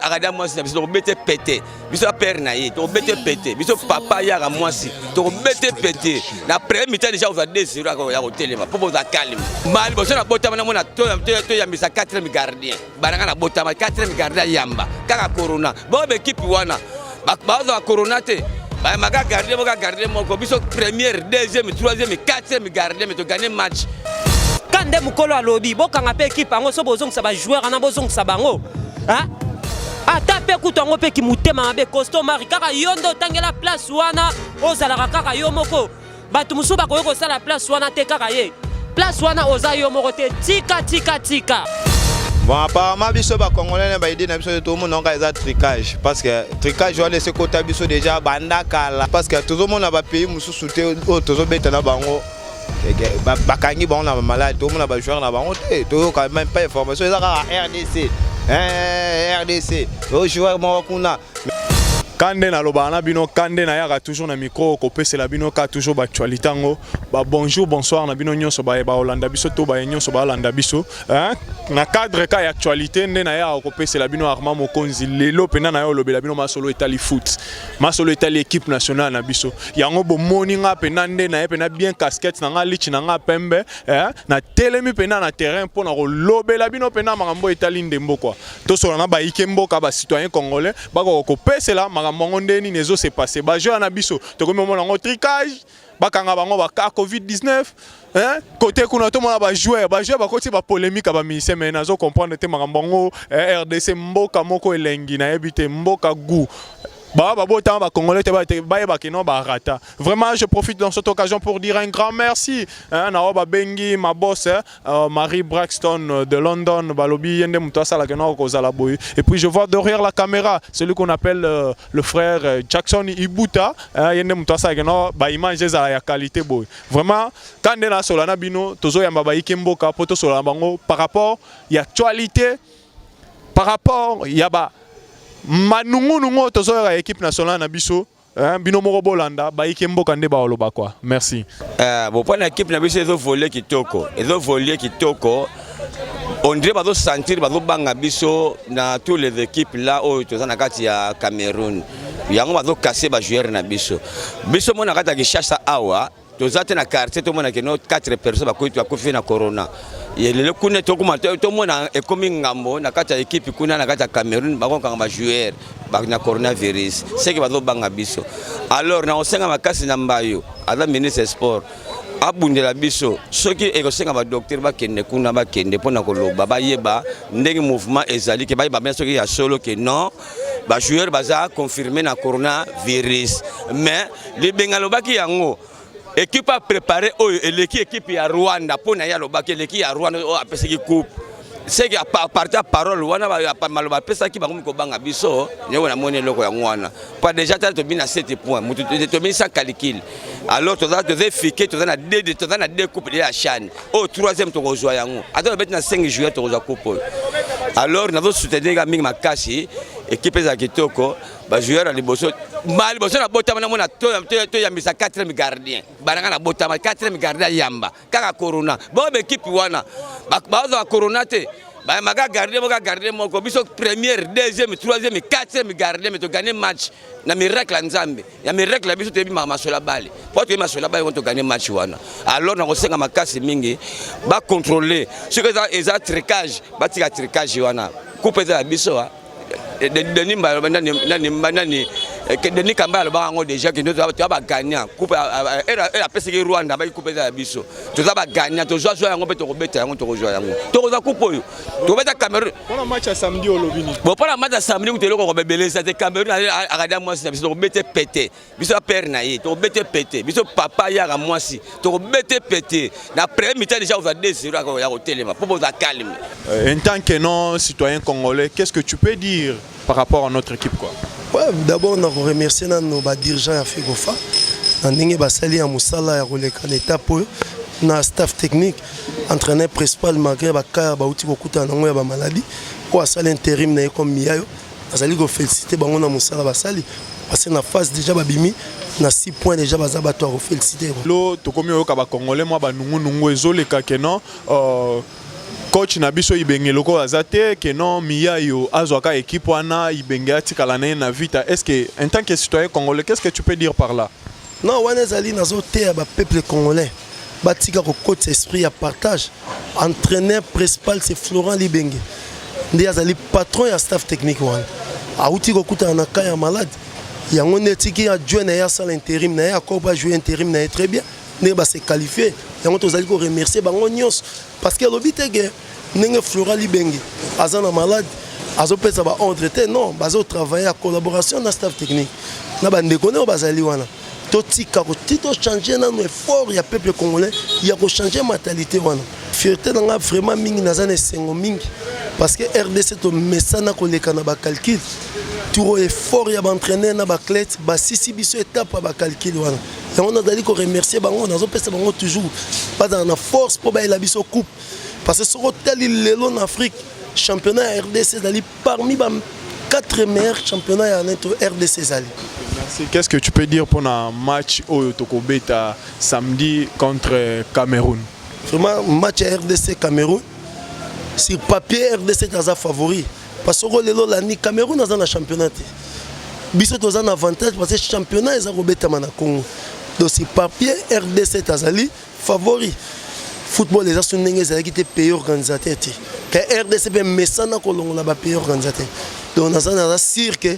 akada mwasi na biso tokobete pete biso ya pere na ye tokobete pete biso papa yaka mwasi tokobete pete na premier mitan deja kozwa 2 ya kotelema mpo bozwa calme ma liboso na botama na mona toyambisa 4 gardien bananga na botama quatrième garde ya yamba kaka corona bo bekipe wana baoza ba corona te bayambaka garde moko garde moko biso première deuxième troisième quatrième garde me togane match ka nde mokolo alobi bokanga mpe ekipe yango so bozongisa bajoueur wana bozongisa bango ata mpe kutu yango mpe kimotema mabe costo mari kaka yo nde otangela place wana ozalaka kaka yo moko bato mosusu bakoki kosala place wana te kaka ye place wana oza yo moko te tika tika tika bon apparemment biso bacongolene baide na biso tomonaka eza tricage parce que tricage wana esi ekota biso déjà banda kala parce que tozomona bapays mosusu te oyo tozobeta na bango bakangi bango na bamaladi tomona bajoueur na bango te toyoka meme pas information eza kaka rdc rdc oyo joueur moko kuna kande nalobaka na bino kande nayaka toujours na micro kopesela bino ka toujours baactualité yango ba bonjour bonsoir na bino nyonso baye baolanda biso to baye nyonso baalanda biso na cadre ka ya actualité nde nayaka kopesela bino arma mokonzi lelo mpena naye olobela bino masolo etali foot masolo etali équipe nationale na biso yango bomoni nga mpena nde naye mpena bien casquette na nga lichi na nga pembe natelemi mpena na terrain mpo na kolobela bino mpena makambo etali ndembo kua tosola na bayike mboka ba citoyen congolais bakoka kopesela makambo yango nde nini ezo se passe bajeur na biso tokomi omona yango tricage bakanga bango baka covid 19 hein? kote kuna tomona bajoueur bajoueur bakoti bapolemika bamise mai nazo comprendre te makambo yango eh, rdc mboka moko elengi nayebi te mboka gout bah, bah, bon, bah, congolais, bah, bah, bah, non, bah, rata. Vraiment, je profite dans cette occasion pour dire un grand merci. Hein, Naoba Bengi, ma boss, hein, Euh, Marie Braxton euh, de London, Balobi, Yende Mutwasala, Et puis je vois derrière la caméra celui qu'on appelle euh, le frère Jackson Ibuta, hein, Yende Mutwasala, bah image à la qualité boy. Vraiment, quand on a Solana Bino, Tozo Yambaba Ikemboka, Poto Solana Bango, par rapport à l'actualité, par rapport à Yaba Manungu Nungo, Tozo Yaba équipe nationale Nabiso, Eh, bino moko bolanda bayike mboka nde baoloba kwa merci eh, bopana ekipe na biso ezovolie kitoko ezovolie kitoko ondire bazosantire bazobanga biso na tous les équipes là oyo toza na kati ya cameroun yango bazokase bajoueur na biso biso mona kati ya kishasa awa toza te na quartier tomona ke no 4 personnes bakuti bakufi na corona lelo kuna tokoma tomona ekomi ngambo na kati ya ekipe kuna na kati ya cameroun bakokanga bajoueur na coronavirus seke bazobanga biso alors na kosenga makasi na mbayo aza ministre sport abundela biso soki ekosenga badoktere bakende kuna bakende mpo na koloba bayeba ndenge mouvement ezali ke bayeba bien soki ya solo ke non ba joueurs baza confirmer na corona virus mais libenga lobaki yango équipe a préparé oyo eleki équipe ya Rwanda pona ya lobaki eleki ya Rwanda oyo apesaki coupe seke parti ya parole wana maloba apesaki bango mikobanga biso yango namoni eloko yango wana mpo deja tala tobi na 7 point moto tobi sans calcul alors toza toza efike toza na toza na deux coupe de ya chane oyo troisième tokozwa yango ata babeti na 5 juillet tokozwa coupe oyo alors nazosoutenir ka mingi makasi ekipe ezala kitoko bajoueur ya liboso ma liboso nabotama namona toyambisa 4 gardien bananga nabotama 4 gardien ayamba kaka corona bao baekipe wana bazwa corona te bayambaka gardien moko gardien moko biso première deuxième troisième quatrième gardien me togane match na miracle ya nzambe ya miracle ya biso toyebi masolo ya bale mpo toyebi masolo ya bale wana toganye match wana alors nakosenga makasi mingi bacontrole soki eza, eza tricage batika tricage wana kupe eza ya biso ah. eh, denis mba aloba nani nani eh, denis kamba alobaka yango déjà kende toza bagagnant coupe apesaki rwanda baki coupe eza ya biso toza bagagnant tozwa zwa yango mpe tokobeta yango tokozwa yango tokozwa coupe oyo tobeta cameroun mpona match ya samedi olobi nini bon mpona match ya samedi kutu eloko kobebelesa te cameroun akada mwasi na biso tokobete pete biso ya pere na ye tokobete pete biso papa yaka mwasi tokobete pete na premier mitan déjà ozwa 2 0 ya kotelema mpo boza calme euh, en tant que non citoyen congolais qu'est ce que tu peux dire par rapport à notre équipe quoi. Ouais, d'abord na ko remercier nanu ba dirigeants ya Fegofa na ndenge basali ya musala ya koleka na étape oyo na staff technique entraîneur principal malgré bakaya bauti kokutana nango ya bamaladi oyo asali intérim na ye comme miyayo azali kofélicite bango na mosala basali parce que na phase déjà babimi na 6 points déjà baza bato ya kofélicite lo tokomi oyoka bacongolais mwa banungunungu ezoleka ke non euh, coach na biso ibenge lokola aza te que non miyayo azwa ka équipe wana ibenge atikala na ye na vita est ce que en tant que citoyen congolais qu'est ce que tu peux dire par là non wana ezali nazoteya bapeuple congolais batika kokotisa esprit ya partage entraîneur principal c'est florent libenge nde azali patron ya staff technique wana awuti kokutana na cas ya malade yango nde etiki ajue na ye asala interim na ye akoba ajue interim na ye très bien ndenge ba se qualifier yango tozali ko remercier bango nyonso parce que alobi te que ndenge Flora Libenge aza na malade azopesa ba ordre te non bazo travailler ya collaboration na staff technique na bandeko nde oyo bazali wana totika koti tochange nano effort ya peuple congolais ya kochange mentalité wana fierté na ngai vraiment mingi naza na esengo mingi parce que rdc tomesana koleka na bacalcule turo effort ya baentraîneur na baclete basisi biso etape ya bacalcule wana yango nazali ko remercier bango nazopesa bango toujours bazala na force mpo bayela biso coupe parce que soki otali lelo na afrique championnat ya rdc ezali parmi ba 4 meilleurs championnats ya neto rdc ezali Qu'est-ce que tu peux dire pour un match au Tokobeta samedi contre Cameroun Vraiment, match à RDC Cameroun, sur papier, RDC est favori. Parce que lelo landi Cameroun aza na championnat te. Biso toza na avantage parce que championnat eza kobetama na Congo. Donc c'est papier RDC azali favori. Football eza so ndenge ezalaki te pays organisateur te. Ka RDC pe mesana kolongola ba pays organisateur. Donc naza naza sûr que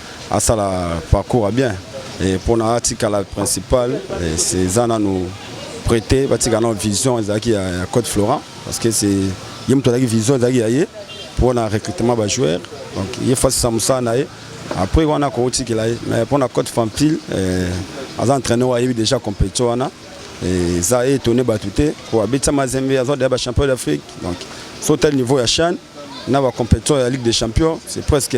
asala parcours ya bien et mpo na atikala principal eza nanu prete batika nano vision ezalaki ya, ya code florent parce que c'est ye moto azalaki vision ezalaki ya ye mpo na recrutement bajoueur donc ye fasisa mosala na ye après wana akotikela ye mais mpo na code fampile eh, aza entraîneur oyo ayebi déjà compétition wana eh, eza etone bato te po abetisa mazembe aza deya bachampion d'afrique donc so tali niveau ya chane na bacompétition ya ligue des champions c'est presque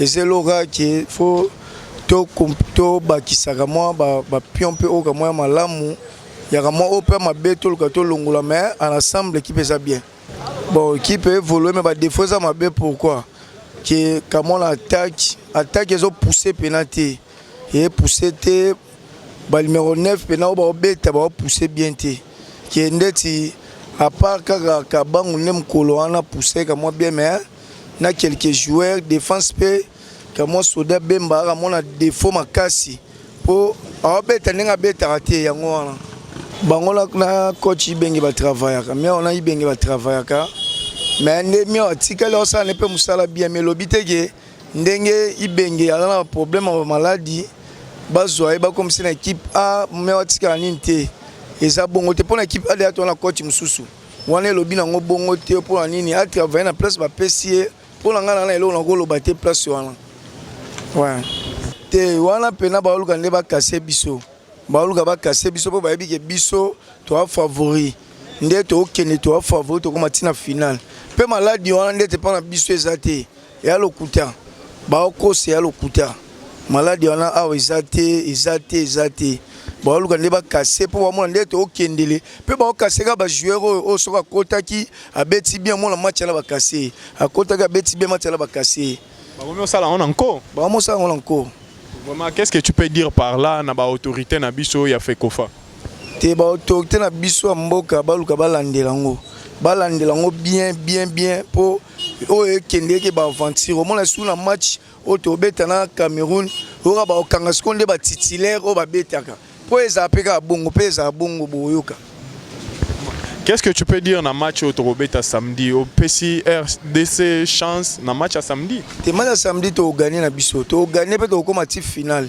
eza eloka ke fo tobakisaka to mwa bapion mpe oyo kamwa ya malamu yaka mwa oyo mpe ya mabe toluka tolongola mais en ensemble ekipe eza bien bon ekipe evolue mais badefo eza mabe pourquoi ke kamwa na attaque attaque ezopousse mpena te epousse te banimero 9 mpena oyo baobeta baopousse bien te ke ndeti apart kaka kabangu nde mokolo wana pousse kamwa bien mais na quelques joueurs défense pe kamwa soda Bemba akamona défaut makasi po aobeta ndenge abetaka te yango wana bango na coach Ibenge ba travaillaka mais on a Ibenge ba travaillaka mais nde mio atikali osala ne pe musala bien mais lobi te ke ndenge Ibenge aza na problème ya maladi bazwa ye bakomisi na équipe A mais atikala nini te eza bongo te pona équipe A deya to na coach mususu Wana elobi na ngo bongo te mpo na nini a travailler na place bapesi ye mpo na ngai na eloko nakoloba te place wana ouais. te wana mpena baoluka nde bakase biso baoluka bakase biso mpo bayebi ke biso toa favori nde tokende toa favori tokoma ntina finale mpe maladi wana ndete mpo na biso eza te Ya lokuta. Ba okoss ya lokuta. Malade wana awa eza te, eza te, eza te. Ba luka nde ba casser po ba mona nde to kendele. Pe ba casser ka ba joueurs oyo oyo soki akotaki abeti bien mona match na ba casser. Akotaki abeti bien match na ba casser. Ba komi osala yango na nko. Ba komi osala yango na nko. Vraiment qu'est-ce que tu peux dire par là na ba autorites na biso ya fecofa? te ba autorité na biso ya mboka baluka balandela yango balandela yango bien bien bien mpo oyo ekendeke baaventure omona su na match oyo tobeta na cameroun oyoka bakokanga sikoyo nde batitulaire oyo babetaka mpo ezala mpe kaka bongo mpe ezala bongo boyoka Qu'est-ce que tu peux dire na match au Torobeta samedi au PCRDC RDC chance na match à samedi? Te match à samedi to gagner na biso, to gagner peut au combat finale.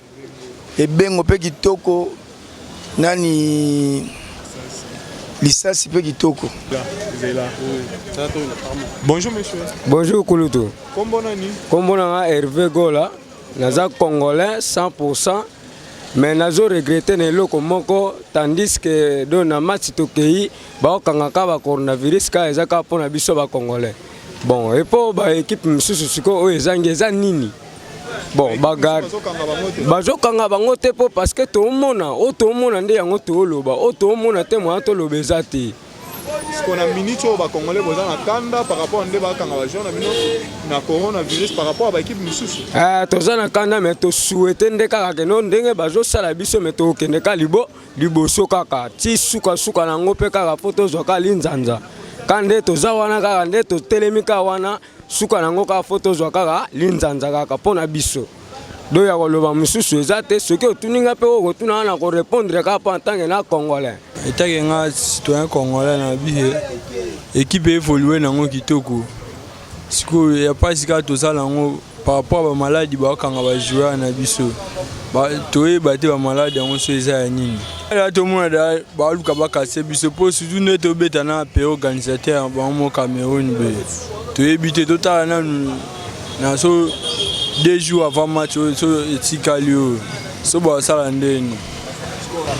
Ebengo pe kitoko nani lisasi pe kitoko. Bonjour monsieur. Bonjour Kulutu. Kombo nani? Kombo nanga Hervé Gola. Naza congolais 100% mais nazo regretter na eloko moko tandis que do na match tokei baokangaka ba coronavirus ka eza kaka mpo na biso ba congolais bon epo ba ekipe mosusu sikoyo oyo ezangi eza nini bon bagarde bazokanga bango te mpo parce que toomona oyo toomona nde yango tooloba oyo toomona te moya toloba eza te pona minute oyo bacongolais boza na kanda par rapport nde bakanga bajeur na bino na coronavirus par rapport ya baekipe mosusu eh, toza na kanda mai tosuete nde kaka keno ndenge bazosala biso mai tokokende ka libo liboso kaka ti sukasuka na yango mpe kaka mpo tozwa ka linzanza ka nde toza wana kaka nde totelemi ka wana suka nango kaka fo tozwa kaka linzanza kaka mpo na biso do ya koloba mosusu eza te soki otuni ngai mpe okotuna wana korepondre kaka mpo antanke na congolais etake nga citoyen congolais na biye ekipe evolue nango kitoko sikoyo ya mpasi kaka tozala yango par rapport ya bamaladi bakanga bajoueur na biso toyeba te bamaladi yango so eza ya nini Là, tout le monde a balu kabaka c'est biso po surtout ne to beta na pe organisateur ba mo Cameroun be. To ebite to tala na na so deux jours avant match oyo so etikali oyo so basala ndeni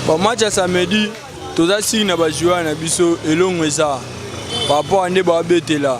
ba match ya samedi toza siri na bajoueur na biso elongo eza par rapport ya nde babetela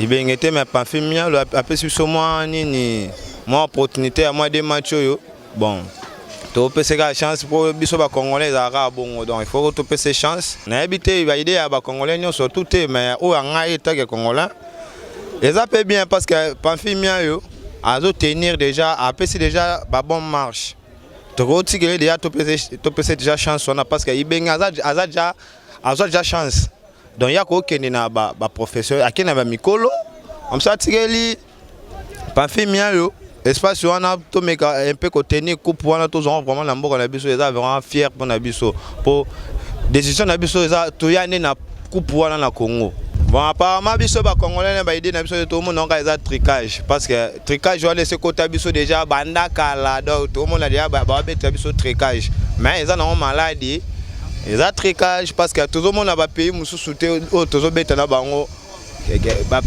ebenge te mais pamfi mialo apesi biso mwa nini mwa opportunité ya mwa de match oyo bon topese kaka chance mpo biso bacongolais ezalaka kaka bongo donc il faut topese chance nayebi te baide ya bacongolais nyonso tu te mais oyo ya ngai etake congolais eza mpe bien parce que pamfi miayo azotenir déjà apesi déjà babon marche tokotikele déjà topese déjà chance wana parce que ibenge aza déjà azwa déjà chance donc ya kokende na baprofesseur ba akende na bamikolo amso atikeli pamfimi yayo espace wana tomeka un peu kotenir coupe wana tozwanga vraiment na mboka na biso eza vraiment fier mpo na biso mpo décision na biso eza toya nde na coupe wana na congo bon apparemment biso bacongolais na baide na biso tomonaka eza tricage parce que tricage wana esekota biso déjà banda kala donc tomona deja babetela biso tricage mais eza nango maladi eza tricage parce que tozomona bapays mosusu te oyo tozobeta na bango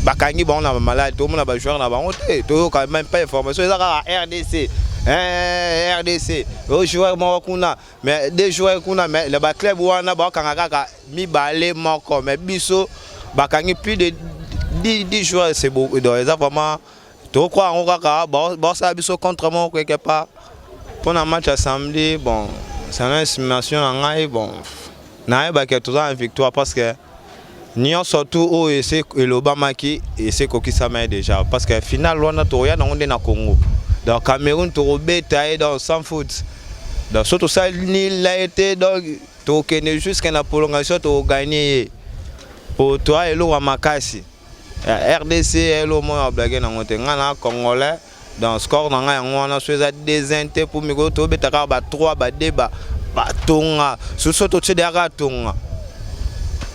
bakangi bango na bamaladi tozomona bajoueur na bango te toyoka meme pas information eza kaka rdc eh, rdc ojoueur moko kuna mais de joueur kuna mais na baclub wana bakanga kaka mibale moko mais biso bakangi plus de 10 joueurs eza vraiment tokwa yango kaka baosala biso contre moko quelque part mpo na match ya samedi bon sana estimation na ngai bon nayebake toza na victoire parce que nyonso tu oyo ese elobamaki ese ekokisama ye déjà parce que finale wana tokoya nango nde na congo donc cameroun tokobeta ye donc sans faute donc so tosali nila ye te donc tokokende jusque na prolongation tokogagne ye mpo toya eloko ya makasi ya rdc elo moko ya blage nango te ngai na congolais donc score na ngai yango wana so eza desin te mpo mikolo tobeta kaka ba 3 ba 2 ba batonga soso totie deya kaka tonga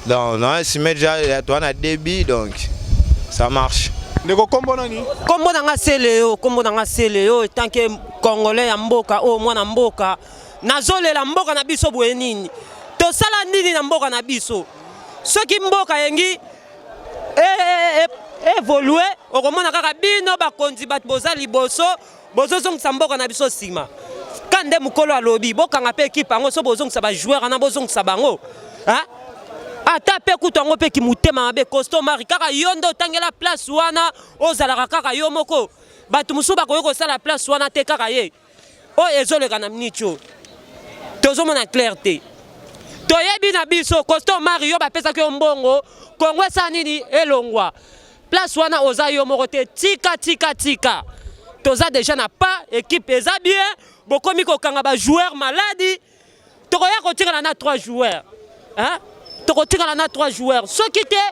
donc na esime deja ya toa na débit donc ça marche ndeko kombo nani kombo na ngai se leo kombo na ngai se leo etanke congolais ya mboka oyo oh, mwana mboka nazolela mboka na biso boye nini tosala nini na mboka na biso soki mboka yengi evolue eh, eh, eh, okomona kaka bino bakonzi bato boza liboso bozozongisa mboka na biso nsima ka nde mokolo alobi bokanga mpe ekipe yango so bozongisa bajoueur wana bozongisa bango ata mpe kutu yango mpe kimotema mabe costo mari kaka yo nde otangela place wana ozalaka kaka yo moko bato mosusu bakoki kosala place wana te kaka ye oyo ezoleka na miniti oyo tozomona claire te toyebi na biso costa omari yo bapesaki yo mbongo kongo esa nini elongwa place wana oza yo moko te tika tika tika toza deja na pas ekipe eza bien bokomi kokanga bajoueur maladi tokoya kotikala na 3 joueurs hein? tokotikala na 3 joueurs soki te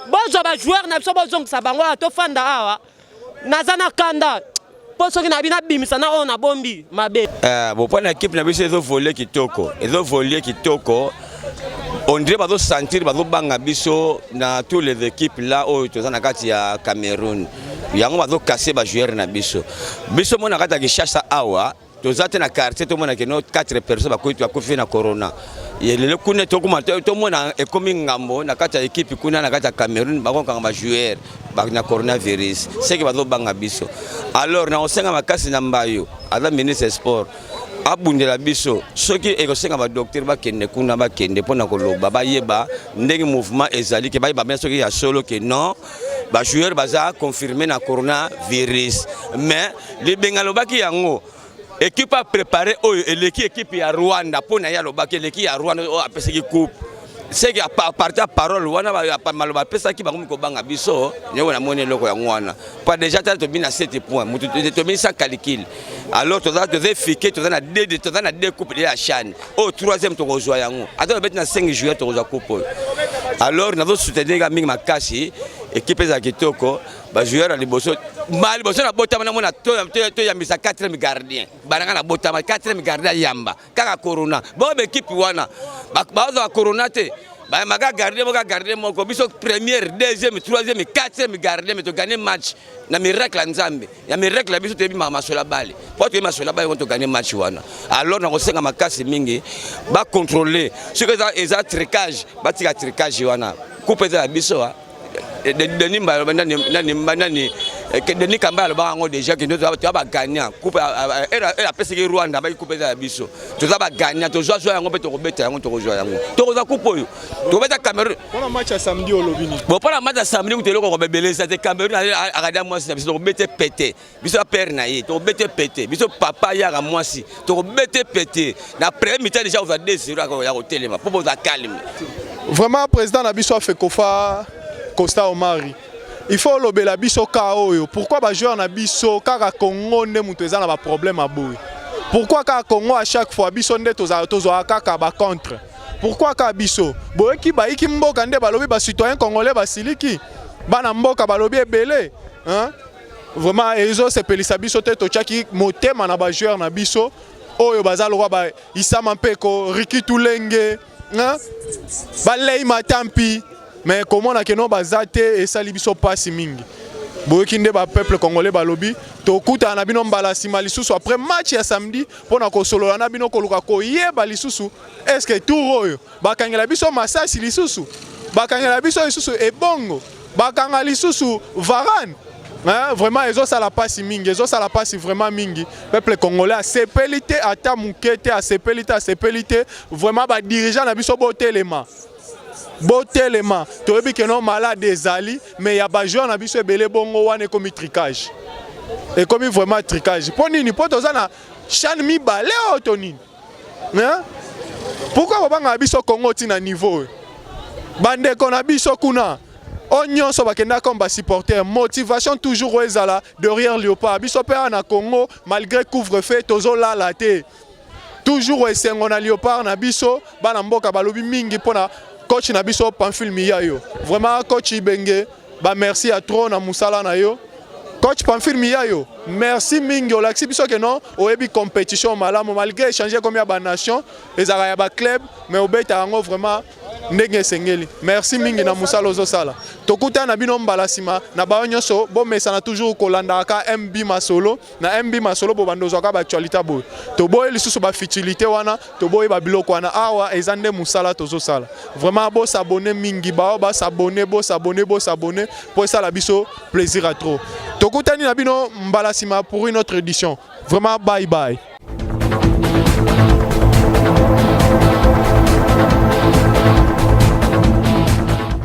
bozwa bajoueur na biso bozongisa bango awa tofanda awa naza na kanda mpo soki nabi nabimisa na oyo nabombi mabe uh, eh, bopani ya kipe na biso ezovolie kitoko ezovolie kitoko ondire bazosentir bazobanga biso na tous les équipes la oyo toza na kati ya cameroun yango bazokase bajoueur na biso biso mona kati ya kishasa awa toza te na quartier tomona ke no 4 personnes bakuti bakufi na corona lelo kuna tokoma tomona ekomi ngambo na kati ya ekipe kuna na kati ya cameroun bakokanga bajoueur na coronavirus seke bazobanga biso alors na kosenga makasi na mbayo aza ministre ya sport abundela biso soki ekosenga badoktere bakende kuna bakende mpo na koloba bayeba ndenge mouvement ezali ke bayeba bien soki ya solo ke non ba joueurs baza confirmer na corona virus mais libenga lobaki yango ekipe a prépare oyo eleki ekipe ya Rwanda mpo na ye alobaki eleki ya Rwanda oyo apesaki coupe seke aparti ya parole wana maloba apesaki bango mikobanga biso ndenge namoni eloko yango wana mpo deja tala tobini na 7 point moto tobini sans calcule alors toza toza efike toza na de toza na de coupe de ya shane oyo oh, troisième tokozwa yango ata babeti na 5 juillet tokozwa coupe oyo alors nazo soutenir nga mingi makasi ekipe eza kitoko bajoueur ya liboso ma liboso nabotama namona toyambisa 4 gardien bananga nabotama 4 gardien ayamba kaka corona bo ba ekipe wana bazwa corona te bayamaka garde boka garde moko biso première deuxième troisième quatrième garde me togane match na miracle ya nzambe ya miracle ya biso toyebi masola bale mpo toyebi masola bale wana togane match wana alors nakosenga makasi mingi bacontrole soki eza tricage batika tricage wana coupe eza ya biso Eh, denis mba aloba nani nani eh, denis kamba alobaka yango déjà kende toza bagagnant coupe eh, apesaki rwanda baki coupe eza ya biso toza bagagnant tozwa zwa yango mpe tokobeta yango tokozwa yango tokozwa coupe oyo tokobeta cameroun mpona match ya samedi olobini bo mpona match ya samedi kutu eloko kobebelesa te cameroun akada mwasi na biso tokobete pete biso ya père na ye tokobete pete biso papa yaka mwasi tokobete pete na premier mitan deja kozwa 2 0 ya kotelema mpo boza calme vraiment président na biso afekofa costa omari il faut olobela biso ka oyo pourquoi bajoueur na biso kaka congo nde moto eza na baproblème ya boye pourquoi kaka congo à chaque fois biso nde tozwaka kaka bacontre pourquoi kaka biso boyoki bayiki mboka nde balobi bacitoyen congolais basiliki bana mboka balobi ebele hein? Vraiment ezo sepelisa biso te tochaki motema na ba joueurs na biso oyo baza lokwa ba Isama Mpeko, Ricky Tulenge, hein? ba Lei Matampi mais komona keno baza te esali biso pasi mingi. boyoki nde ba peuple congolais balobi tokutana na bino mbala nsima lisusu après match ya samedi mpo na kosolola na bino koluka koyeba lisusu eske tour oyo Bakangela biso masasi lisusu, bakangela biso lisusu ebongo, bakanga lisusu Varane. Hein, vraiment ezosala mpasi mingi ezosala mpasi vraiment mingi peuple congolais asepeli te ata moke te asepeli te asepeli te vraiment badirigeant na biso botelema botelema toyebi keno malade ezali mais ya bajoueur na biso ebele bongo wana ekomi tricage ekomi vraiment tricage mpo nini mpo toza na chane mibale oyo to nini hein? pourquoi bobangaka biso congo ti na niveau oyo bandeko na biso kuna oyo nyonso bakendaka comme basupporter motivation toujours oyo ezala derrière léopard biso mpe awa na congo malgré couvre feu tozolala te toujours esengo na léopard na biso bana mboka balobi mingi mpo na coach na biso pamphile miyayo vraiment coach ibenge Ba merci ya trop na musala na yo. Coach Pamphile Miyayo, merci mingi olakisi biso que non oyebi compétition malamu malgré échanger comme ya ba nation ezalaka ya ba club mais obeta yango vraiment ndenge esengeli. Merci mingi na musala ozosala. Tokutana bino mbala sima na bayo nyonso bomesana toujours kolandaka MB Masolo. na MB Masolo bobanda ozwaka baactualite boye toboyi lisusu bafutilité wana toboyi babiloko wana awa eza nde mosala tozosala vraiment bosabone mingi bao basabone bosabone bosabone mpo esala biso plaisir ya trop tokutani na bino mbala nsima pour une autre édition vraiment bye bye